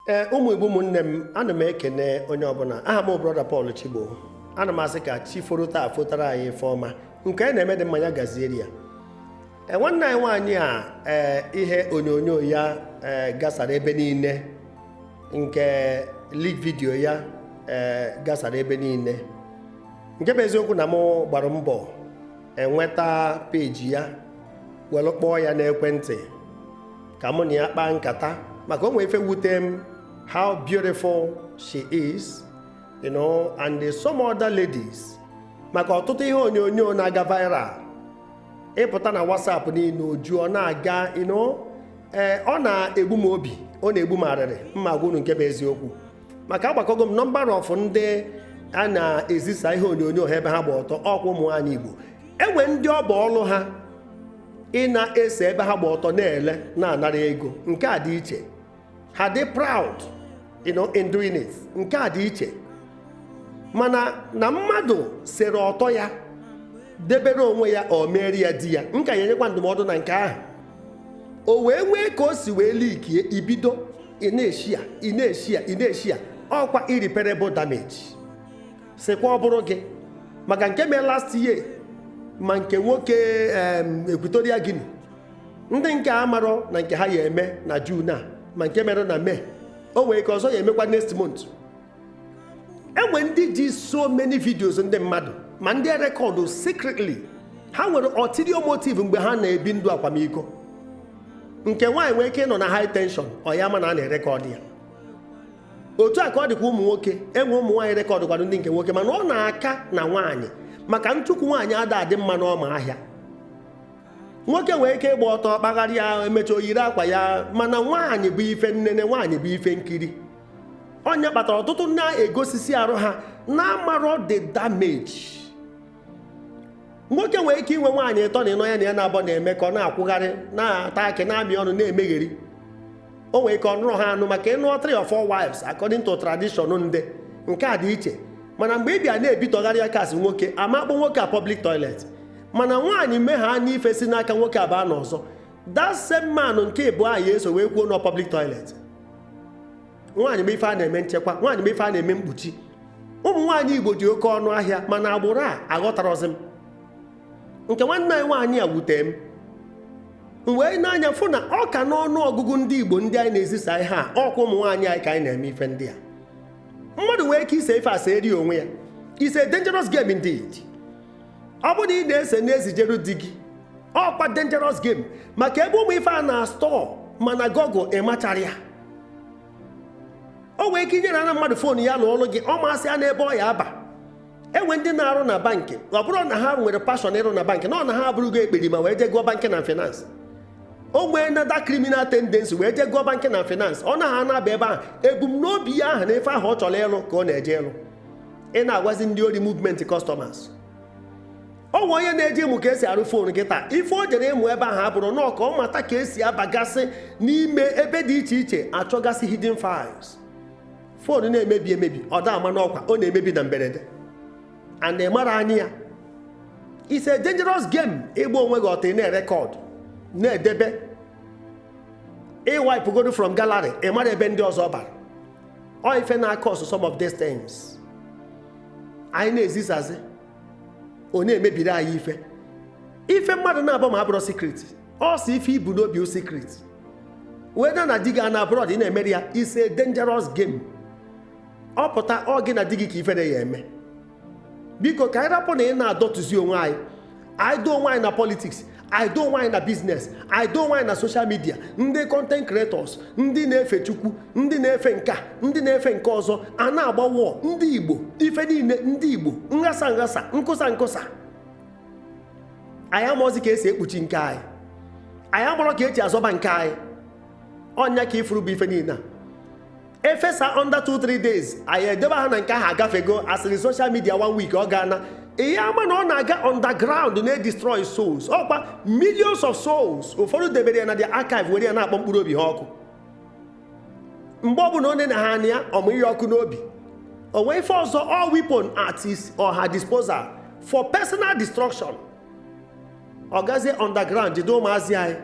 ee ụmụ igbo ụmụnne m ana m ekene onye ọbụla aha m brọda Paul Chigbo ana m asị ka chi foro taa fotara anyị ife ọma nke onye na-eme dị mma nya gaziere ya e, nwanne anyị nwaanyị a ee ihe onyonyo ya ee gasara ebe niile nke leak video ya ee gasara ebe niile nke bụ eziokwu na m gbara mbọ enweta peji ya were kpọọ ya n'ekwentị ka mụ na ya kpaa nkata maka o nwe ife wute m how beautiful she is you know and some other ladies maka ọtụtụ ihe onyonyo na-aga viral ị pụta na WhatsApp niile o ju ọ na-aga you know ee ọ na-egbu m obi ọ na-egbu m arịrị mma agwa unu nke bụ eziokwu maka agbakọgo m number of ndị a na-ezisa ihe onyonyo ha ebe ha gba ọtọ ọkwa ụmụ nwaanyị Igbo e nwe ndị ọ bụ ọlụ ha ị na-ese ebe ha gba ọtọ na-ele na-anara ego nke a dị iche ha dị proud you know, in doing it nke a dị iche mana na mmadụ sere ọtọ ya debere onwe ya o meere ya di ya m ka ya-enyekwa ndụmọdụ na nke ahụ o wee nwee ka o si wee likie e bido ị na-eshịa ị na-eshịa ị na-eshịa ọkwa irreparable damage sịkwa ọ bụrụ gị maka nke mee last year ma nke nwoke Equatorial Guinea ndị nke a marọ na nke ha ya eme na June a ma nke mere na May o nwere ike ọzọ ya emekwa next month e nwe ndị ji so many videos ndị mmadụ ma ndị e rekọdụ secretly ha nwere ulterior motive mgbe ha na-ebi ndụ akwamiko nke nwaanyị nwee ike ịnọ na high tension ọ ya ma na a na-erekọdụ ya otu a ka ọ dịkwa ụmụ nwoke e nwe ụmụ nwaanyị rekọdụkwara ndị nke nwoke mana ọ na-aka na nwaanyị maka ntukwu nwaanyị ada adị mma n'ọma ahịa nwoke nwere ike ịgba ọtọ kpagharịa e mecha o yiri akwa ya mana nwaanyị bụ ife nnene nwaanyị bụ ife nkiri ọ nya kpatara ọtụtụ na-egosisi arụ ha na-amarọ the damage nwoke nwere ike inwe nwaanyị ịtọ na ịnọ ya na ya na-abọ na-eme ka ọ na-akwụgharị na-ata akị na-amị ọnụ na-emegheri o nwere ike ọ nụrọ ha anụ maka ịnụ three or four wives according to tradition ndị nke a dị iche mana mgbe ị bịa na-ebitọgharị aka asị nwoke a ma akpọ nwoke a public toilet mana nwaanyị mee ha n'ife si n'aka nwoke a baa n'ọzọ that same man nke mbụ ahụ eso wee kwuo na ọ public toilet nwaanyị bụ ife a na-eme nchekwa nwaanyị bụ ife a na-eme mkpuchi ụmụ nwaanyị igbo dị oke ọnụ ahịa mana agbụrụ a aghọtarọzi m nke nwanne anyị nwaanyị a wute m m wee nee anya fụ na ọ ka n'ọnụ ọgụgụ ndị igbo ndị anyị na-ezisa ihe a ọkwa ụmụ nwaanyị anyị ka anyị na-eme ife ndị a mmadụ nwee ike ise ife a seere onwe ya it's a dangerous game indeed ọ bụrụ na ị na-ese na-ezijeru di gị ọkwa dangerous game maka ebe ụmụ ife a na-astọ mana Google machara ya o nwere ike inyere ana mmadụ foonu ya lụọlụ gị ọ masịana ebe ọ ya-aba e nwe ndị na-arụ na bankị ọ bụrọ na ha nwere passion ịrụ na bankị na ọ na ha abụrụgo ekperima wee jee gụọ banking and finance o nweena that criminal tendency wee jee gụọ banking and finance ọ na ha na-aba ebe ahụ ebumnobi ya ahụ na ife ahụ ọ chọrọ ịlụ ka ọ na-eje ịlụ ịna-agwazi ndị ori movement customers o nwe onye na-eje ịmụ ka esi arụ fon kịtaa ife o jere ịmụ ebe ahụ abụrụ nọọ ka ọ mata ka esi abagasị n'ime ebe dị iche iche achọgasị hidden files fon na-emebi emebi ọ da ama n'ọkwa ọ na-emebi na mberede and mara anyị ya it's a dangerous game ịgba onwe gị ọtọ ị na-erekọd na-edebe i wepụgodu from gallery ị mara ebe ndị ọzọ ọ bara ọ ife na-acause some of these things anyị na-ezisazi ọ na-emebiri anyị ife ife mmadụ naabọ ma abụrọ secret ọ sọ ife i bu n'obi bụ secret whether na di gị nọ abroad ị na-emere ya it's a dangerous game ọ pụta ọ gị na di gị ka ifere ya-eme biko ka anyị rapụna ịna-adọtụzi onwe anyị anyị dọọ onwe anyị na politics anyị dọọ onwe anyị na business anyị dọọ onwe anyị na social media ndị content creators ndị na-efe chukwu ndị na-efe nkaa ndị na-efe nke ọzọ a na-agba wọọ ndị igbo ife niile ndị igbo nghasa nghasa nkụsa nkụsa anyị amarọzi ka esi ekpuchi nke anyị anyị amarọ ka esi azọba nke anyị ọ nya ka ị fụrụ bụ ife niile a e fesa under 2-3 days anyị edebe ha na nke ahụ agafego asịrị social media one week ọ gaana ị ya-ama na ọ na-aga underground na-edestroy souls ọkwa millions of souls ụfọdụ debere ya na their archive were ya na-akpọ mkpụrụ obi ha ọkụ mgbe ọ bụna o nene ya anya ọ mụnye ya ọkụ n'obi o nwee ife ọzọ all weapon at his or her disposal for personal destruction ọ gazie underground jide ụmụazị anyị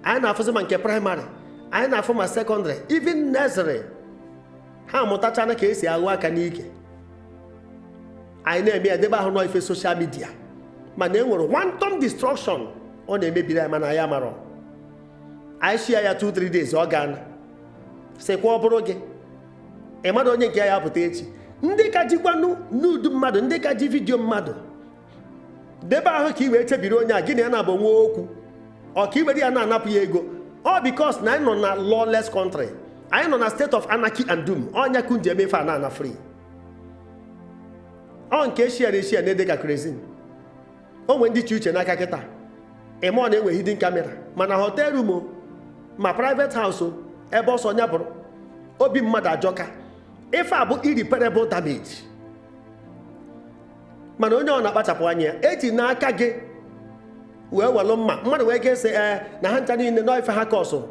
anyị na-afụzi ma nke primary anyị na-afụ ma secondary even nursery ha amụtachana ka esi aghụ aka n'ike anyị na-eme ya debe ahụ na ọ ife social media mana e nwere wanton destruction ọ na-emebiri anyị mana anyị amarọ anyị share ya 2-3 days ọ gaana sịkwa ọ bụrụ gị ị madụ onye nke ya apụta echi ndị ka jikwanụ nude mmadụ ndị ka ji video mmadụ debe ahụ ka i wee chebiri onye a gị na ya naabọ nwe okwu or ka i were ya na-anapụ ya ego ọ because na anyị nọ na lawless country anyị nọ na state of anarchy and doom ọ nya ka unu ji eme ife a na-ana free ọ nke e share na e share na-ede ka kerosene o nwee ndị chị uche n'aka kịta ị ma na e nwe hidden camera ma na hotel room o ma private house o ebe ọ sọ nya bụrụ obi mmadụ ajọka ife a bụ irreparable damage mana onye ọbụna kpachapụ anya ya ejina aka gị wee welụ mma mmadụ wee ga-ese ee na ha ncha niile nọ ife ha kọsụ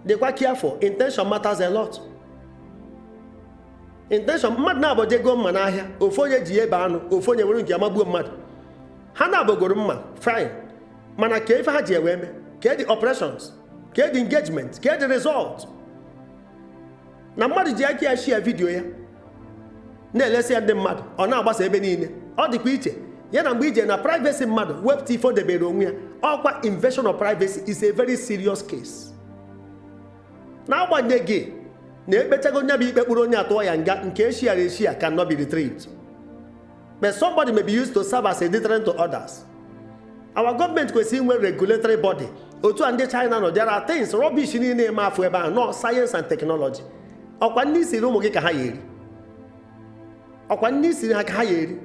dịkwa careful intention matters a lot intention mmadụ naabọ jee go mma n'ahịa ofu onye ji ya ebe anụ ofu onye ewere nke ya magbuo mmadụ ha naabọ goro mma fine mana kee ife ha ji wee mee kedụ operations kedụ engagement kedụ result na mmadụ ji aka ya share video ya na-elesi ya ndị mmadụ ọ na-agbasa ebe niile ọ dịkwa iche ya na mgbe i je na privacy mmadụ wepụta ife o debere onwe ya ọkwa invasion of privacy is a very serious case n'agbanyeghị na ekpechago nya bụ ikpe kpụrụ onye atụọ ya nga nke eshiara eshia cannot be retrieved but somebody may be used to serve as a deterrent to others our government kwesịrị inwe regulatory body otu a ndị china nọ there are things rubbish niile ị ma afụ ebe ahụ nọ science and technology ọkwa nni i siri ụmụ gị ka ha ya eri ọkwa nni i siri ha ka ha ya eri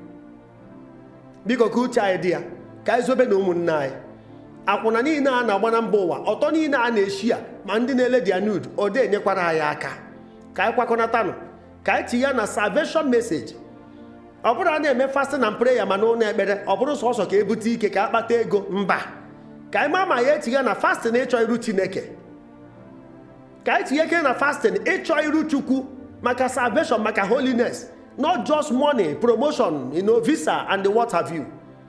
biko ka uche anyị dị ya ka anyị zọbanụ ụmụnne anyị akwụna niile a na-agba na mba ụwa ọtọ niile a na-eshia ma ndị na-ele their nude ọ dị enyekwara anyị aka ka anyị kwakọnatanụ ka anyị tinye ya na salvation message ọ bụrụ a na-eme fasting and prayer ma n'ụlọ ekpere ọ bụrụ sọsọ ka ebute ike ka akpata ego mba ka anyị ma ma ya etinye na fasting ịchọ iru chineke ka anyị tinye ike na fasting ịchọ iru chukwu maka salvation maka holiness not just money promotion visa and what have you